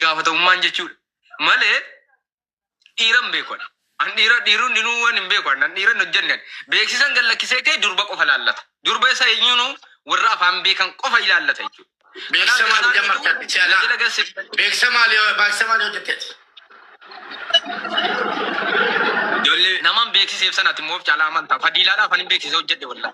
gaafatamummaan jechuudha malee dhiira hin beeku ani. An dhiira dhiirri hundinuu waan hin beeku an dhiira hin hojjenne ani. beeksisan gad lakkisee kee durba qofa ilaallata. Durba isa eenyuunu warra afaan beekan qofa ilaallata jechuudha. Beeksisa maal hojjan martatti si'alaa? Tajaajila gassi Beeksisa maal beeksisa maal hojjetteeti? ijoollee namaan beeksiseef sanatti immoo of caalaa amantaa fadiilaadhaaf ani beeksisa hojjedhe wallaa.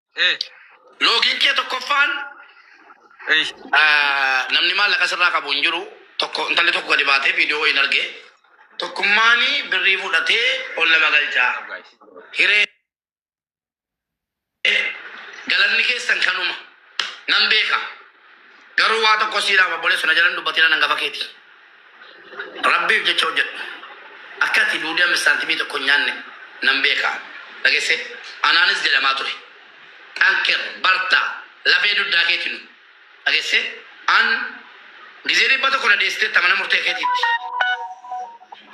Eh, Loogiin kee tokkoffaan eh, ah, namni maallaqa sirraa qabu hin jiru. Tokko intalli tokko gadi baatee viidiyoo hin arge. Tokkummaan birrii fudhatee ol nama galchaa. guys. Hiree galanni keessan kanuma nan beeka. Garuu waa tokko siidhaaf obboleessu na jalan dubbatiin nan gafa keeti. Rabbiif jecha hojjedhu. Akka ati duudii ammi saantimii tokko hin nyaanne nan beeka. Dhagesse? Anaanis jedhamaa ture. Xanker, barta, lafee duddaa keeti nu. Dhagesse? An gizee dhibba tokko na deessiteetta mana murtee keetiitti.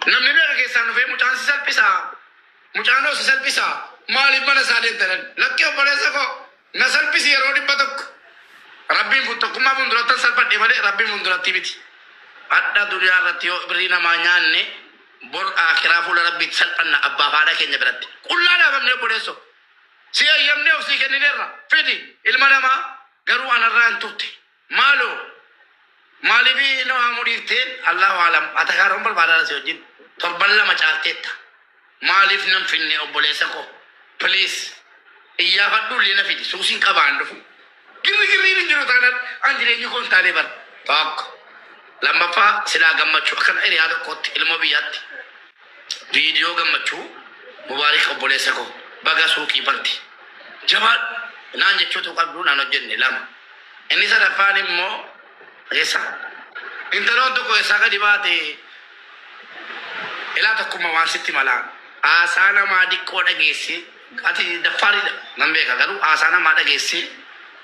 Namni meeqa keessaan dhufee mucaan si salphisaa? Mucaan hoo si salphisaa? Maaliif mana isaa deemta jedhan. Lakki obboleessa koo. Na salphisi yeroo dhibba tokko Rabbiin fun tokkummaa fundurattan salphadhe malee Rabbiin fundurattii miti. Hadha duniyaa irratti yoo birrii namaa nyaanne bor aakiraa fuula Rabbiitti salphanna abbaaf haadha keenya biratti. Qullaa dhaabamne obboleesso. Si eeyyamnee of sii kennineerra. Fidi ilma namaa garuu anarraa hin turte. Maalo maalifi na waamuu dhiifte Allahu aalam atakaaroon barbaadaadha si wajjin torban lama caalteetta maaliif nan finne obboleessa koo please iyyaafadhu illee na fidi suusiin qabaan dhufu girri girriin hin jiru taanaan an jireenyi koo hin taanee bara tokko lammaffaa silaa gammachuu akkana hiriyaa tokkootti ilmoo biyyaatti Video gammachuu mubaarik obboleessa koo baga suuqii banti jabaadhu naan jechuu utuu qabduu naan hojjenne lama inni sadaffaan immoo eessa intaloon tokko eessaa gadi baate ilaa tokkumma waan sitti malaa haasaa namaa diqqoo dhageessi Ati daffaariidha nan beeka garuu haasaa namaa dhageessee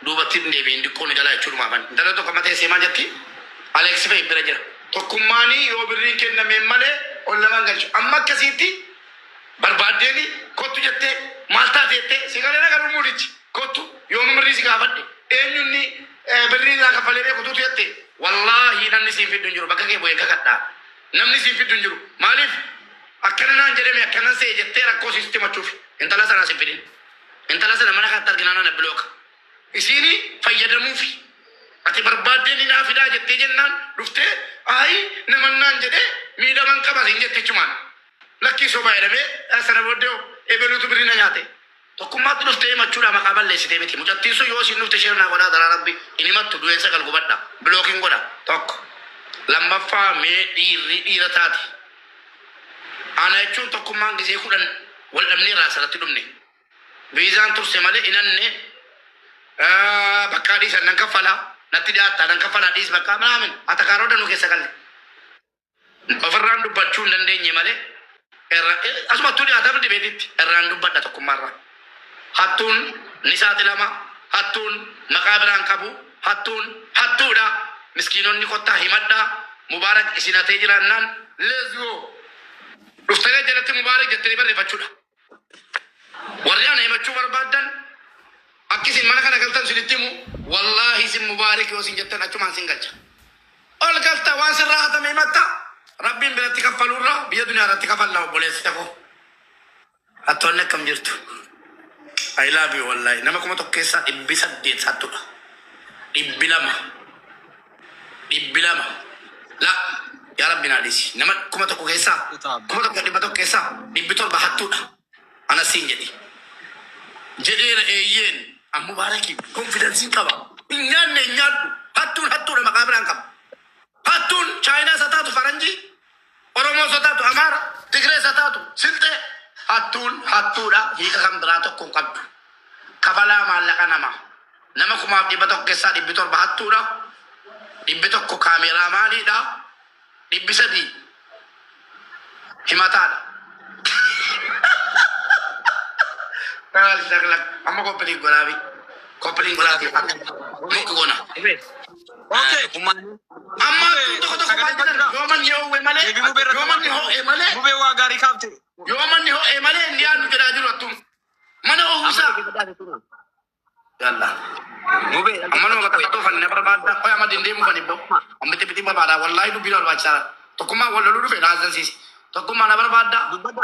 duubatti hin deebi'in diqqoo ni gala jechuudhumaafan intaloo tokko amma teessee maal jetti Alex fa'i bira jira. Tokkummaanii yoo birriin kennameen malee ol nama hin galchu amma akkasiitti barbaaddeeni kottu jettee maal taate jettee si galeera garuu muudichi kottu yoomuu birrii si gaafadhe eenyu inni birrii irraa kaffalee beeku tuutu jette wallaahi namni siin fiddu hin jiru bakka kee bu'een kakadhaa. Namni siin fiddu hin jiru. Maaliif? Akkana naan jedhe mee akkanan se'e jettee rakkoo isii sitti himachuufi. Intala sana as hin fidin. Intala sana mana kaatti arginaan ana bilooka. Isiini fayyadamuufi. Ati barbaaddee ni naa fidaa jettee jennaan dhuftee ayi naman naan jedhe miidhaman qaba siin jette achumaan. Lakkii sobaa jedhamee sana booddee hoo ebeluutu birrii na nyaate. Tokkummaatti dhuftee himachuudhaa maqaa balleessitee miti mucattiin sun yoo isiin dhufte share naa godhaa adaraa rabbi hin himattu du'een sagal gubadha block hin godha tokko lammaffaa mee dhiirri dhiira taate ana jechuun tokkummaan gisee kudhan wal dhabnee irraa asirratti dhumne viizaan turse malee hin anne Ah, bakkaa dhiisan nan kaffala natti dhiyaattaa nan kaffala dhiis bakkaa minaamin atakaaroo danuu keessa galle Ofirraan dubbachuu hin dandeenye malee irra asumattuu dhiyaataaf dibeetitti irraan dubbadha tokkummaarraa. Hattuun ni saaxilama, hattuun maqaa biraan qabu, hattuun hattuudha. Miskiinonni kottaa himadhaa, Mubaarak isin hatee jiraannaan let's go. Dhuftanee jalatti Mubaarak jettanii barreeffachuudha. Warri ana himachuu barbaaddan akki isin mana kana galtan isinitti himu wallaahi isin mubaarik yoo isin jettan achumaan isin galcha. Ol galta waan sirraa hatame himatta rabbiin biratti kaffaluurra biyya duniyaa irratti kafalla obboleessa koo. Hattoonni akkam jirtu? I love you wallaahi. Nama kuma tokko keessaa dhibbi saddeet hattudha. Dhibbi lama. dhibbi lama la yaa rabbi naa dhisi nama kuma tokko keessaa kuma tokko dhibba tokko keessaa dhibbi torba hattuudha ana siin jedhi jedheera eeyyeen an mubaarakii konfidansiin qaba hin nyaanne hin nyaadhu hattuun hattuudha maqaa biraan qaba hattuun chaayinaa isa taatu faranjii Oromoos haa taatu Amaara, Tigrees haa taatu Silxee hattuun hattuudha hiika kan biraa tokko hin qabdu. Kafalaa maallaqa namaa. Nama kumaaf dhibba tokko keessaa dhibbi torba hattuudha. Dhibbi tokko kaameeraa maaliidha. Dhibbi sadii himataadha. Maal shaklak amma koppiliin godhaafi. Koppiliin godhaafi. Muki gona. Okay. Amma kun tokko tokko maal jedhan yoo manni ho'e malee yoo manni ho'e malee gubee waa gaarii kaafte yoo manni ho'e malee hin dhiyaannu jedhaa jiru attum mana ofisaa yalla gubee amma nama bakka tokko fanni na barbaadda qoy amma dindeemu fanni bo amma itti bitii barbaada wallaahi dubbii na barbaachisaadha tokkummaa wal loluu dhufe na azzansiisi tokkummaa na barbaadda dubbadda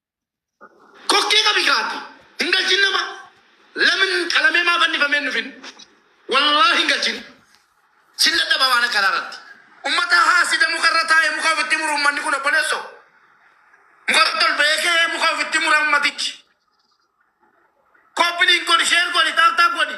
Kokkee qabi kaati. Hin galchin nama. Lamin qalamee maa fannifamee hin dhufin. Wallaahi hin galchin. Sin dadhaba waan akkanaa irratti. Ummata haasida muka irra taa'e muka ofitti muru ummanni kun obboleesso. Muka irratti ol ba'ee ka'ee muka ofitti mura ummatichi. Koppiliin godhi, sheer godhi, taaptaap godhi.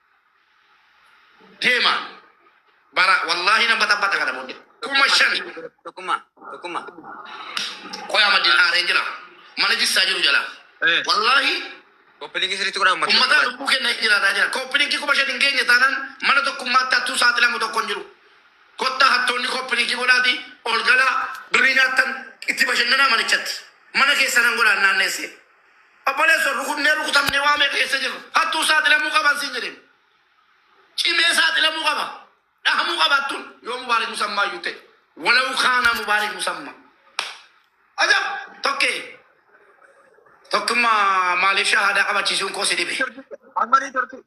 deema bara wallaahi nan baxabaxa kana booddee kuma shan Tokkummaa. Tokkummaa. qoyaa maddiin aaree jira mana jissaa jiru jala Eh. wallaahi Koppiliingi sirriitti godhaa uummata. ummataa lubbuu kenna hin jiraataa jira kooppilinki kuma shan hin geenye taanaan mana tokkummaatti hattuu saaxilamu tokko hin jiru kottaa hattoonni kooppilinki godhaati ol galaa birrii nyaattan itti bashannanaa manichatti mana keessa nan godhaan naanneessee Obboleesso rukutnee rukutamnee waa meeqa keessa jirra. Hattuuf saaxilamuu qaba siin jedheen. Cimee saaxilamuu qaba. Dhahamuu qaba hattuun. Yoo Mubaarik Musammaa iyyuu ta'e. Walau kaana Mubaarik Musammaa. Ajab! Tokkee. Tokkummaa maaliif shahaadaa qabachiisuun koo si dhibe. Ammarii turtii.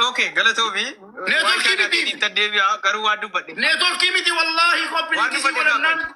Okay, galatoomi. Networkii Waan kana miti. ittiin deebi'aa garuu waan dubbadhe. Neetworkii miti wallaahi Waan qophiin dubbadhe qisii godhannaan.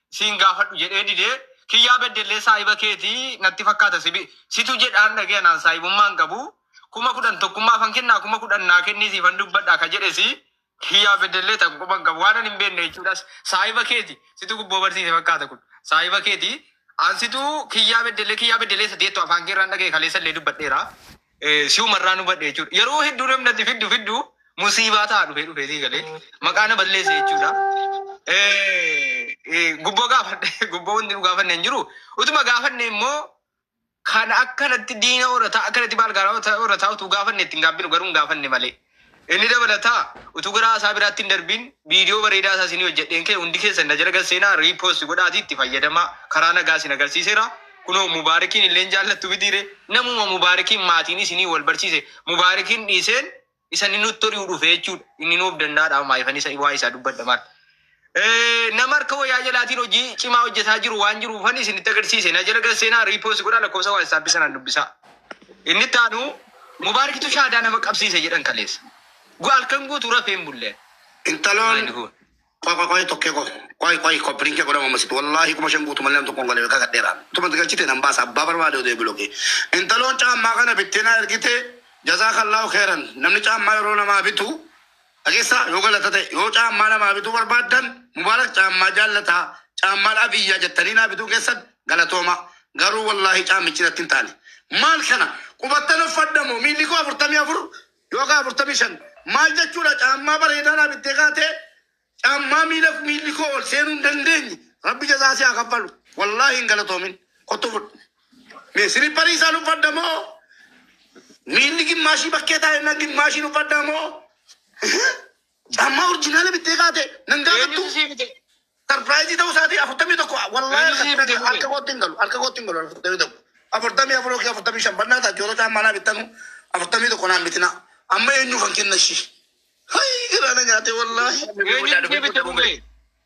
siin gaafadhu jedhee didee kiyyaa beddellee saahiba keeti natti fakkaata sibi situ jedhaan dhagee anaan saahibummaan qabu kuma kudhan tokkummaa fan kennaa kuma kudhan naa kennii siifan dubbadha ka jedhesi kiyyaa beddellee takka quban qabu waan ani hin beekne jechuudhas saahiba keeti situ gubboo barsiise fakkaata kun saahiba keeti an situ kiyyaa beddellee kiyyaa beddellee sadeettu afaan keerraan dhagee kaleessa illee dubbadheera eh, si'uma irraa nu badhe jechuudha. Yeroo hedduu namni ati fiddu fiddu musiibaa ta'a dhufee dhufee sii galee maqaa na balleesse jechuudha. Eh, eh, Gubboo gaafadhe gubboo wanti nu gaafanne hin jiru. Utuma gaafanne immoo kan akkanatti diina horataa akkanatti baalgaaraa horataa utuu gaafanne ittiin gaabbinu garuu hin gaafanne malee. Inni dabalataa, utuu gara haasaa biraatti hin darbiin, viidiyoo bareedaa isaa isinii hojjedheen ka'e hundi keessan na jala gad seenaa, repost godhaatii itti fayyadamaa, karaa nagaa isin agarsiiseera. Kunoo Mubaarikiin illee hin jaallattu mitii ree? Namuma Mubaarikiin maatiin isinii wal barsiise Mubaarikiin dhiiseen isa inni nutti ori'u dhufe jechuudha. Inni nu of danda'aadha, maayifan isa waa'ee isaa dubbadha maal? Eh, nama harka wayyaa jalaatiin hojii cimaa hojjetaa jiru waan jiru ufan isinitti agarsiise na jala gara seenaa riipoos godhaa lakkoofsa waatsaappi sanaan dubbisaa inni itti aanu mubaarikitu shaadaa nama qabsiise jedhan kaleessa Gu- halkan guutuu rafee hin bulle Intaloon Maali kun? qoy qoy qoy tokkee qoy qoy qoy koppiliin kee godhama masit wallaahi kuma shan guutu malee namtu kun galee kaka dheeraa tuma galchite nan baasa abbaa barbaade odee bilogee intaloon caammaa kana bitteenaa ergite jazaa kallaahu keeran namni caammaa yeroo namaa bitu Dhageessaa yoo galata ta'e yoo caammaa namaa bituu barbaaddan Mubaarak caammaa jaallataa caammaan Abiyyaa jettanii naa bituu keessan galatoomaa garuu wallaahi caammichi natti hin taane maal kana qubattan uffadha moo miilli koo afurtamii afur yookaan afurtamii shan maal jechuudha caammaa bareedaa naa bittee kaatee caammaa miila miilli koo ol seenuu hin dandeenye rabbi jazaa si haa kaffalu wallaahi hin galatoomin kottu fudhu Mee silipparii isaan uffadda moo miilli gimmaashii bakkee taa'e nan gimmaashiin uffadda moo caammaa orjinaala bittee kaate nan Eenyutu gaafattu sii bite? sarpiraayizii ta'uu isaatii afurtamii tokko wallaahi Eenyu sii bite harka- harka kootti hin galu harka kootti hin galu afurtamii tokko afurtamii afur yookiin afurtamii shan bannaa ta'a joota caammaa naa bittanu afurtamii tokko naan bitina amma eenyuufan kenna ishii hayi giraana nyaate wallaahi Eenyutu sii bite gubee?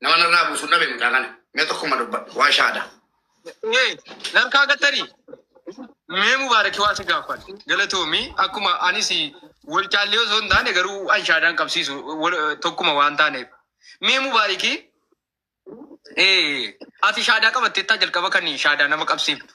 Nama narraa buusu hin dhabe mucaa kana. Mee tokkuma dubbadhu. Waa shaada. Ee, narkaa gattari. Mee Mubaaraki waa si gaafan. Galatoomi akkuma anis wal caallee osoo hin taane garuu anshaadaan qabsiisu wal- tokkuma waan taaneef. Mee Mubaaraki ee, ati shaadaa qabatteettaa jalqaba kan shaadaa nama qabsiiftu.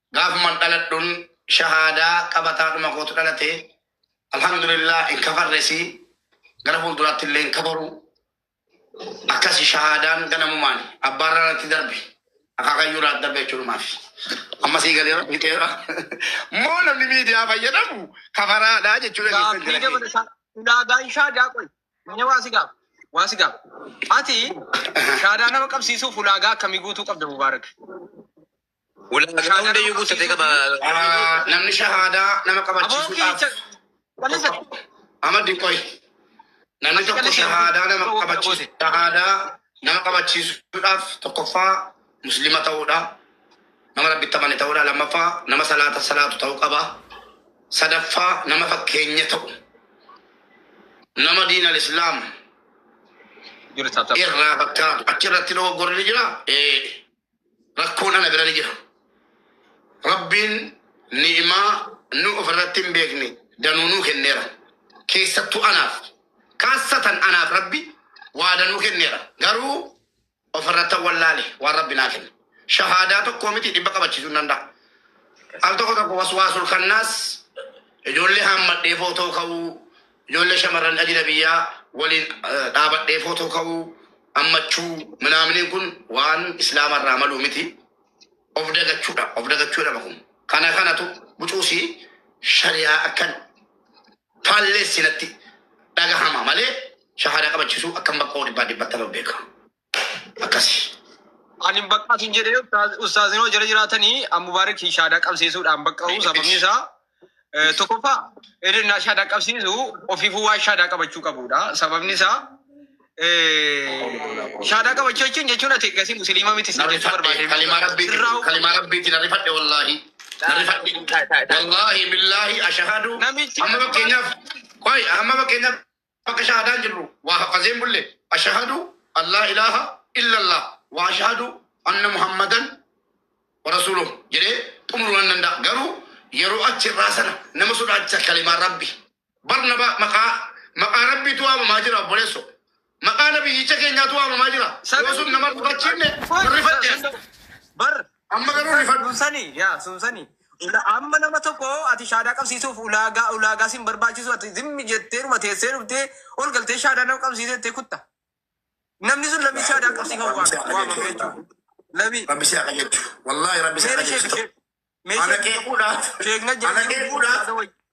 Gaafuman dhaladhun shahaadaa qabataadhuma kootu dhalate. Alhamdulillah hin kafarresi. Gara fuulduraatti illee hin kafaru. Akkasi shahaadaan ganamumaan abbaarraa irratti darbe. Akaakayyuu irraa darbe jechuudhumaafi. Amma sii galeera fixeera. Moo namni miidiyaa fayyadamu kafaraadha jechuu dandeessan Gaaffii jira keenya. dabalataa ulaagaan shaadaa qoy. Inni waa si gaafa. Waa si gaafa. Ati shaadaa nama qabsiisuuf ulaagaa akkamii guutuu qabda Mubaarak? Ulaagaa hundayyuu guuttatee qaba. Namni shahaadaa nama qabachiisuudhaaf tokko Ahmad qoy namni tokko shahaadaa nama qabachiisu shahaadaa nama qabachiisuudhaaf tokkoffaa muslima ta'uudha nama rabbitti amane ta'uudha lammaffaa nama salaata salaatu ta'uu qaba sadaffaa nama fakkeenya ta'u nama diin al-islaam irraa fakkaatu achirratti dogoggorri jira ee Rakkoon ana bira ni jira. Rabbiin ni'imaa nu of irratti hin beekne danuu nuu kenneera. Keessattuu anaaf, kaassatan anaaf Rabbi waa danuu kenneera. Garuu of irrattan wallaale waan Rabbi naa kenne. Shahaadaa tokkoo miti dhibba qabachiisuu hin danda'a. Al tokko tokko waswaasul kannaas ijoollee haammadhee footoo ka'uu Ijoollee shamarran ajila biyyaa waliin dhaabadhee footoo ka'uu, ammachuu, minaaminiin kun waan Islaama irraa maluu miti. Of dagachuudha. Of dagachuu jedhama kun. Kana kanatu bucuusi shariyaa akkan faalleessi natti dhagahama malee shahaada qabachisuu akkan bakkoo dhibbaa dhibbattama beeka. akkasi. Ani hin baqqaa sin jedhee ustaaz- ustaazni hoo jala jiraatanii an mubaarik hin shaadaa qabsiisuudhaan baqqa'u sababni isaa eh, tokkoffaa inni naa shaadaa qabsiisu ofiifuu waan shaadaa qabachuu qabudha sababni isaa eh, shaadaa qabachuu jechuun jechuun ati eegasii musliima miti sin jechuu barbaadee Kalimaa rabbiitiin Irraa- kalimaa rabbiitiin rifadhe wallaahi. Rifadhe. Wallaahi billaahi ashahadu. Namichi- Amma fakkeenyaaf qoy amma fakkeenyaaf Bakka shahaadaan jirru waa haffazee hin bulle. Ashahadu an laa ilaaha illallaah wa ashahadu anna Muhammadan wa rasuuluh jedhee xumuruu nan danda'a. Garuu yeroo achi irraa sana nama sodaachisa kalimaan Rabbi. Barnabaa maqaa maqaa Rabbiitu waamamaa jira obboleesso. Maqaa Nabiyyicha keenyaatu waamamaa jira. Yoo sun nama hin rifachiifne hin rifatte ati. Amma garuu rifadhu. Sunsani yaa sunsani Ula- amma nama tokko ati shaadaa qabsiisuuf ulaagaa ulaagaa sin barbaachisu ati zimmi jetteeruma teessee dhuftee ol galtee shaadaa nama qabsiisee jettee kutta namni sun lamii shaadaa qabsiifamu Rabbi si waame waamame qajeelchu. jechuudha lamii Rabbi si qajeelchu. Wallaahi Rabbi si meera qajeelchu. sheek Ana qeequudhaaf. sheekna Ana qeequudhaaf.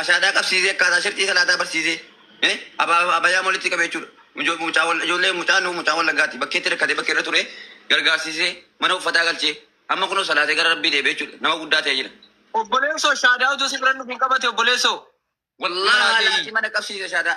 Ashaadaa qabsiisee akkaataa sharxii salaataa barsiisee eh, abaa- abayaam walitti qabe jechuudha. Ijo- mucaa wal- Ijoollee mucaan nu mucaan wallaggaatti bakkeetti rakkate bakkee irra ture gargaarsiisee mana uffataa galchee amma kunoo salaatee gara rabbii deebi'e jechuudha. Nama guddaa ta'e jira. Obboleessoo shaadaa utuu si bira nuuf hin qabate obboleessoo. Wallaahi Wallaahi. mana qabsiise shaadaa.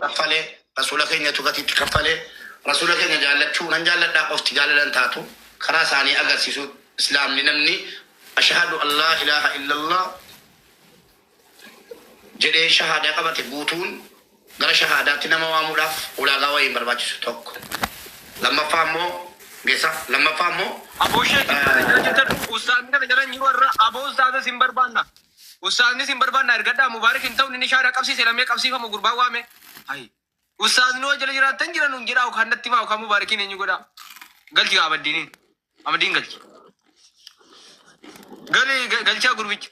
kaffalee Rasuula keenyatu gatii itti kaffalee Rasuula keenya jaallachuu nan jaalladhaa qofti jaalala hin taatu karaa isaanii agarsiisu Islaamni namni Ashahadu an laa ilaaha illallah jedhee shahaadaa qabate guutuun gara shahaadaatti nama waamuudhaaf ulaagaa wayii hin barbaachisu tokko lammaffaa immoo geessaa lammaffaa immoo Aboo sheek eessa jira jirtan ustaazni kana jala hin jiru har'a aboo ustaaza sin barbaanna. Ustaazni sin barbaanna ergadhaa Mubarik hin ta'u nin ishaa dhaqabsii sena mee qabsiifamu gurbaan waame. Hay. Ustaazni hoo jala jiraattan jira nuun jedhaa okaan natti himaa okaan Mubarikiin eenyu godhaa. Galchi gaa Abaddiini. Abaddiin galchi. Gali ga- galchaa gurbicha.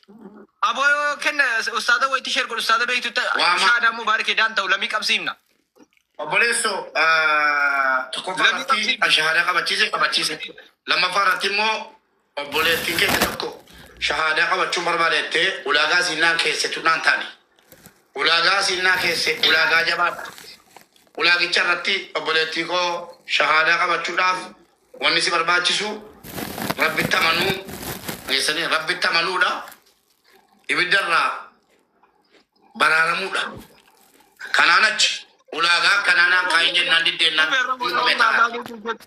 Aboo yoo kenna ustaaza wayitti sheer godhu ustaaza beektu ta- Waama. shaadaan Mubarik edaan ta'u lamii qabsiifna. Obboleesso tokkoffaa Lammi irratti qabsiifne. shahaada qabachiise qabachiise. Lammaffaa irratti immoo Obboleettiin keenya tokko shahaadaa qabachuun barbaada jettee ulaagaa isiin naan keesse tun naan taane. Ulaagaa isiin naa keesse ulaagaa jabaadha. Ulaagicha irratti obboleettii koo shahaadaa qabachuudhaaf wanni si barbaachisu rabbitti amanuu geessanii rabbitti amanuudha. Ibidda irraa baraaramuudha. Kanaan achi ulaagaa akkanaa naan kaa'in jennaan diddeennaan Dhufe rabbi hin qabne ulaagaa ta'a. keetii jetti.